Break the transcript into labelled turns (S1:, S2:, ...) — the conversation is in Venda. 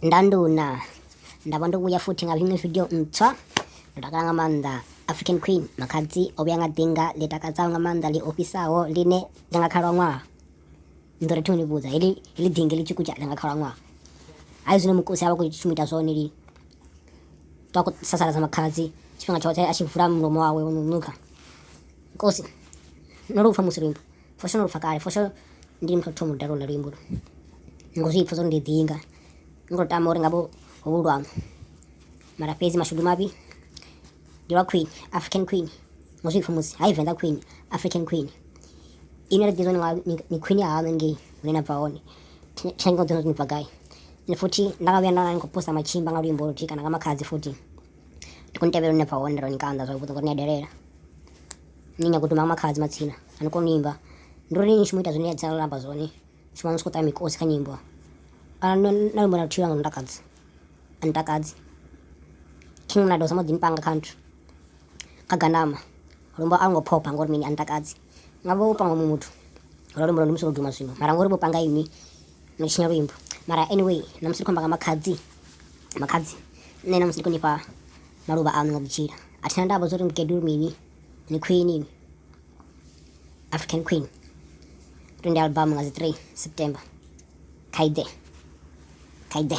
S1: ndanduna nda vha ndo vhuya futhi nga iṅwe video ntswa ndo takala nga maanḓa african queen makhadzi o vhuya nga ḓinga ḽi takadzaho nga maanḓa ḽi ofhisaho ḽine ḽi nga khalaṅwaha ndo ri thoni vhudza heḽi heḽi ḓinga ḽi tshikutsha ḽi nga khalaṅwaha hai zwino mukosi a vha khou shuma ita zwone lini to a khou sasaladza makhadzi tshifhinga tshoṱhe a tshi vula mulomo wawe wo no nukha nkosi no lu pfha musi luimbo Fosho ndo lupfa kale fosho ndi muthu thoma u dalela luimbo lu ngo zwi pfha zwo ndi ḓinga ngo tama uri ngavho ho luambo mara fhedzi mashudu mavhi ndi lwa queen african queen ngo zwi pfha musi hai venḓa queen african queen ine ra ḓizwa ni queen ya haṋu ngei hune na bva hone thengo dzone ni bva gai ni futhi nda nga vhuya nda ni khou posta matshimba nga luimbo luthihi kana nga makhadzi futhi ndi khou ni tevhela hune na bva hone ro ni kanda zwavhuḓi ngori ni a delela nyanya kuti mama khadzi matsina ani koni imba ndo ri ni shumita zwine dza lamba zwone shuma ni sikuta mikosi kha nyimbo kana no na mona thila ngam takadzi ani takadzi king na dosa modin panga country kaganama lomba ango phopa ngori mini ani takadzi ngavo panga muthu ro lomba ndimso duma zwino mara ngori bo panga imi no chinya luimbo mara anyway namusi khomba nga makhadzi makhadzi nne namusi konipa maluvha aṋu nga vhutsila a thina ndavha zwori mukegulu mini ni khwini ini african queen 20 album nga dzi 3 september khaide khaide